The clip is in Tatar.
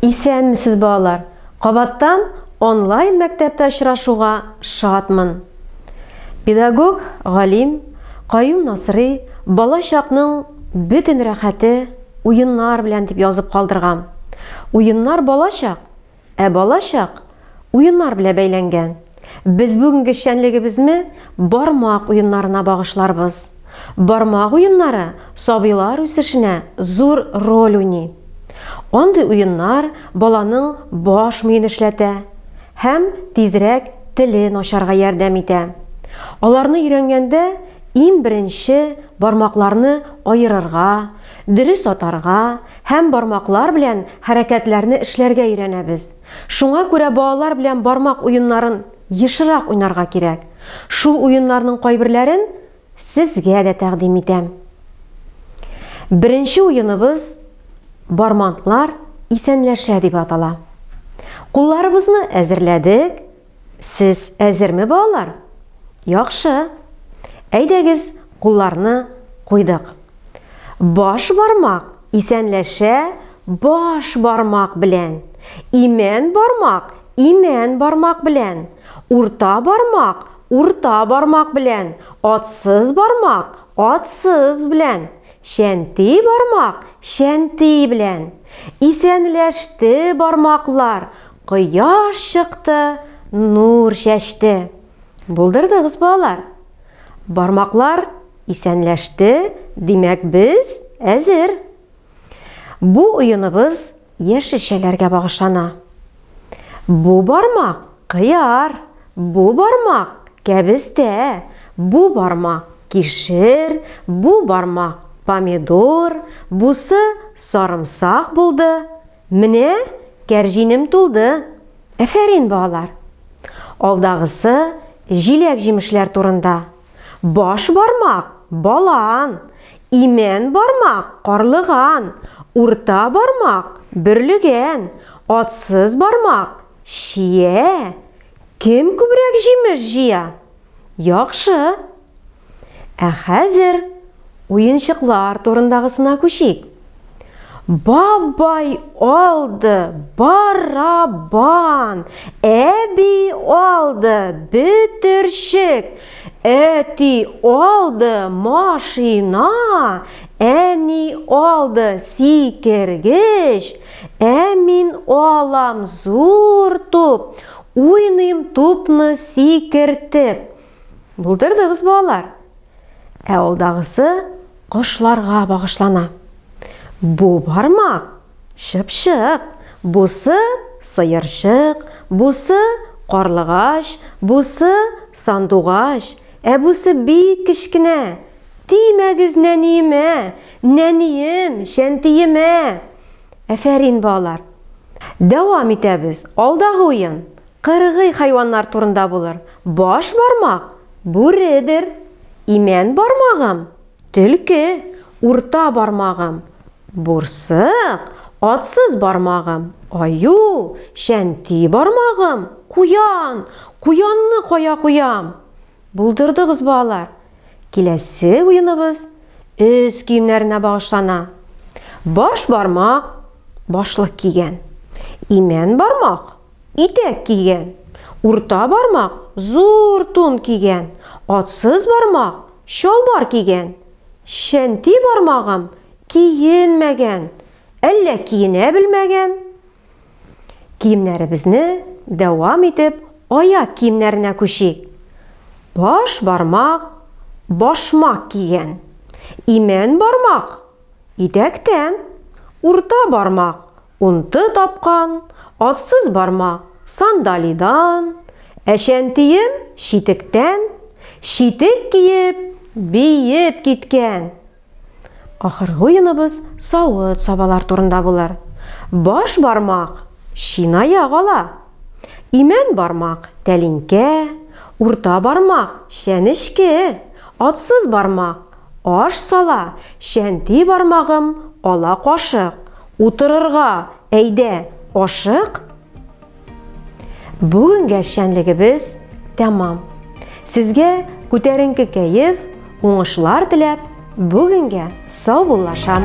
Исәнмесез балалар! Кабаттан онлайн мәктәптә очрашуга шатмын. Педагог, галим Каюм Насрый бала чакның бөтен рәхәте уеннар белән дип язып калдырган. Уеннар балачак, ә балачак Уеннар белә бәйләнгән. Без бүгенге эшчәнлегебезне бармак уеннарына багышларбыз. Бармак уеннары сабыйлар үсешенә зур роль уйный. Андый уеннар баланың баш миен эшләтә һәм тизрәк телен ачарга ярдәм итә. Аларны өйрәнгәндә иң беренче бармакларны аерырга, дөрес атарга һәм бармаклар белән хәрәкәтләрне эшләргә өйрәнәбез. Шуңа күрә балалар белән бармак уеннарын ешырак уйнарга кирәк. Шул уеннарның кайберләрен сезгә дә тәкъдим итәм. Беренче уеныбыз Бармантлар исәнләшә дип атала. Кулларыбызны әзерләдек, Сез әзерме, балалар? Яхшы. Әйдәгез, кулларны куйдык. Баш бармак исәнләшә баш бармак белән. Имән бармак имән бармак белән. Урта бармак урта бармак белән. Атсыз бармак атсыз белән. Шәнти бармак шәнти белән. Исәнләште бармаклар Кояш чыкты, нур чәчте. Булдырдыгыз, балалар. Бармаклар исәнләште, димәк, без әзер. Бу уеныбыз яшелчәләргә багышлана. Бу бармак кыяр, бу бармак кәбестә, бу бармак кишер, бу бармак помидор, бусы сарымсак булды. Менә кәрҗинем тулды! Әфәрин, балалар! Алдагысы җиләк-җимешләр турында. Баш бармак, балан, имән бармак, карлыган, урта бармак, бөрлегән, атсыз бармак, чия. Кем күбрәк җимеш җыя? Яхшы! Ә хәзер уенчыклар турындагысына күчик. Бабай алды барабан, әби алды бөтерчек, әти алды машина, әни алды сикергеч, ә мин алам зур туп, Уйныйм тупны сикертеп. Булдырдыгыз, балалар. Ә алдагысы кошларга багышлана. Бу бармак чыпчык, бусы сыерчык, бусы карлыгач, бусы сандугач, ә бусы бик кечкенә. Тимәгез нәниемә, нәнием, шәнтиемә. Әфәрин балалар! Дәвам итәбез, алдагы уен кыргый хайваннар турында булыр, баш бармак, бүредер, имән бармагым, төлке, урта бармагым, бурсык, атсыз бармагым, аю, чәнти бармагым, куян, куянны кая куям? Булдырдыгыз балалар! Киләсе уеныбыз өс киемнәренә багышлана. Баш бармак башлык кигән. Имән бармак итәк кигән. Урта бармак зур тун кигән. Атсыз бармак чалбар кигән. Чәнти бармагым киенмәгән. Әллә киенә белмәгән? Киемнәребезне дәвам итеп аяк киемнәренә күчик. Баш бармак башмак кигән. Имән бармак идәктән, урта бармак унты тапкан, атсыз бармак сандалидан, әшәнтием читектән, читек киеп, биеп киткән. Ахыргы уеныбыз савыт-сабалар турында булыр. Баш бармак, чынаяк ала. Имән бармак, тәлинкә. Урта бармак, чәнечке. Атсыз бармак, аш сала. Чәнти бармагым, ала кашык. Утырырга, әйдә, ашык. Бүгенге эшчәнлегебез тәмам. Сезгә күтәренке кәеф, уңышлар теләп, бүгенгә саубуллашам.